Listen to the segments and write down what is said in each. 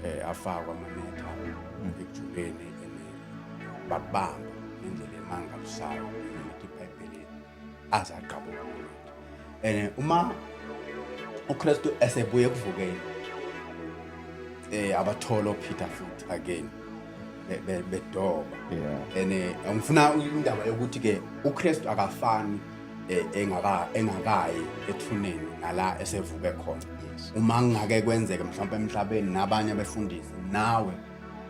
eh, afakwa amanetha mm. ekujuleni bakubamba indlela emangalisayo ukuthi ibhayibheli aze agqabuka kumuntu and eh, uma ukristu esebuye ekuvukeni eh abatholo Peter futhi again bedoba and eh, ngifuna indaba yokuthi ke uKristu akafani e, engaka engakayi ethuneni nala esevuke khona uma ngingake kwenzeke mhlawumbe emhlabeni nabanye abefundisi nawe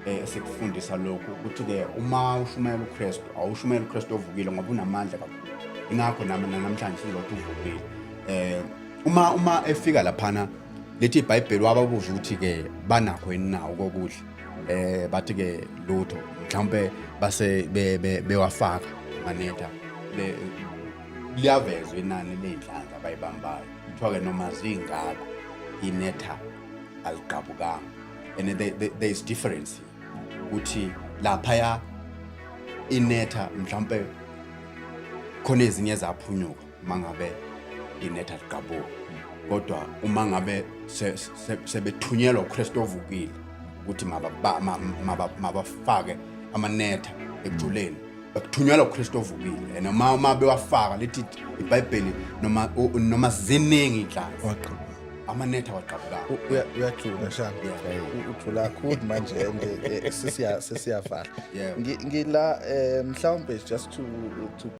e, esikufundisa lokhu ukuthi-ke uma ushumayela ukristu awushumayela ukristu ovukile ngoba unamandla kakhulu ingakho nami namhlanje sizothi uvukile eh uma uma efika laphana lethi iBhayibheli wababuza ukuthi ke banakho yini nawo kokudla eh bathi ke lutho mhlawumbe base bewafaka manetha liyavezwa inani ley'nhlanzi abayibambayo kuthiwa-ke noma zingako inetha aligqabukanga and there is difference ukuthi laphaya inetha mhlawumpe khona ezinye zaphunyuka uma ngabe nginetha ligabuka kodwa uma ngabe sebethunyelwa uKristu ovukile ukuthi mabafake amanetha ekujuleni kuthunyelwa uKristu ovukile and uma uma bewafaka lithi iBhayibheli noma noma ziningi inhlanzi waqhuba amanetha waqhabuka uyathula shaka uthula kakhulu manje eh, sesiya sesiyavala ngila eh, mhlawumbe just to to